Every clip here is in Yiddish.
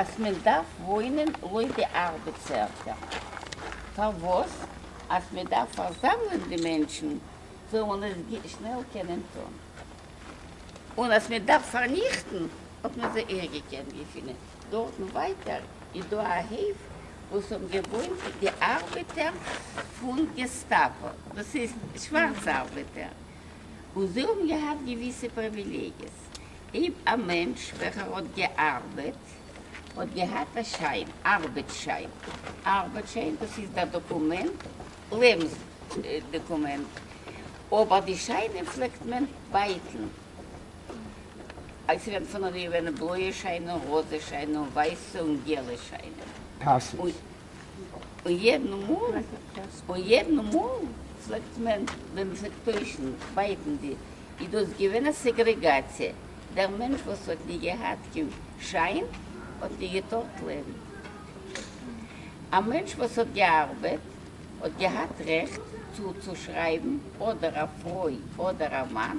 אז מען דארף וואוינען לויט די ארבעטס ערטער, פארוואס? אז מען דארף פארזאמלען די מענטשן זאל מען עס שנעל קענען טון, און אז מען דארף פארניכטן האט מען זיי אויך געקענט געפינען דארטן, ווייטער איז דא א הויף וואס האבן געוואוינט די ארבעטער פון געסטאפא, דאס הייסט שווארצע ארבעטער, און זיי האבן געהאט געוויסע פריוויליגיעס, אויב א מענטש וועלכער האט געארבעט האט געהאט א שיין, ארבעט שיין, ארבעט שיין דאס איז דער דאקומענט, לעבנס דאקומענט, אבער די שיינען פלעגט מען בייטן, עס איז ווען פון און ווי געווען בלויע שיינען, ראזע שיינען, און ווייסע און געלע שיינען. פאסעס, און יעדן מאל און יעדן מאל פלעגט מען ווען מ'פלעגט טוישן בייטן די איז דאס געווען א סעגרעגאציע, דער מענטש וואס האט נישט געהאט קיין שיין האט נישט געטארט לעבן, א מענטש וואס האט געארבעט האט געהאט רעכט צו צושרייבן אדער א פרוי אדער א מאן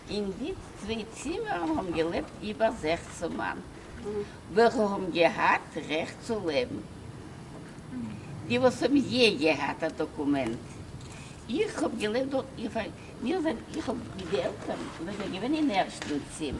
אין די צוויי צימער האבן געלעבט איבער זעכצן מאן וועלכע האבן געהאט רעכט צו לעבן, די וואס האבן יע געהאט א דאקומענט, איך האב געלעבט דארט, איך זיי איך האב די עלטערן זענען געווען אין ערשטן צימער,